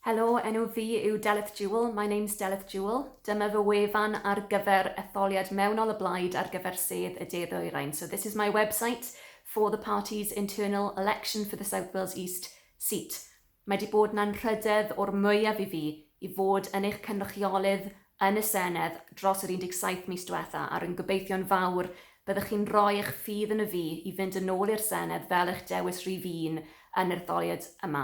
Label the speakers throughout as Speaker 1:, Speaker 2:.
Speaker 1: Helo, enw fi yw Delyth Jewell, my name's Delyth Jewell. Dyma fy wefan ar gyfer etholiad mewnol y Blaid ar gyfer sedd y De Ddwyrain. So this is my website for the party's internal election for the South Wales East seat. Mae di bod na'n rhydedd o'r mwyaf i fi i fod yn eich cynrychiolydd yn y Senedd dros yr 17 mis diwetha a rwy'n gobeithio'n fawr byddwch chi'n rhoi eich ffydd yn y fi i fynd yn ôl i'r Senedd fel eich dewis rhif un yn yr etholiad yma.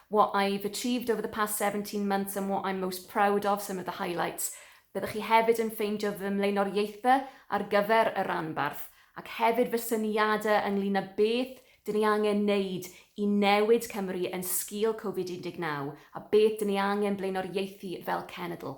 Speaker 1: What I've achieved over the past seventeen months and what I'm most proud of, some of the highlights. Byddwch chi hefyd yn ffeindio fy mlaenoriaethau ar gyfer y rhanbarth ac hefyd fy syniadau ynglŷn â beth dyn ni angen neud i newid Cymru yn sgîl Covid 19 a beth dyn ni angen blaenoriaethu fel cenedl.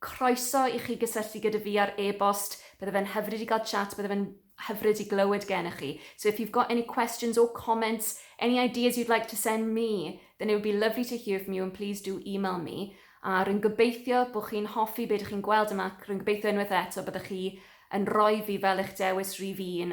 Speaker 1: Croeso i chi gysylltu gyda fi ar e-bost, bydde fe'n hyfryd i gael chat, bydde fe'n hyfryd i glywed gennych chi. So if you've got any questions or comments, any ideas you'd like to send me, then it would be lovely to hear from you and please do email me. A rwy'n gobeithio bod chi'n hoffi be dych chi'n gweld yma ac rwy'n gobeithio unwaith eto byddwch chi yn rhoi fi fel eich dewis rhif un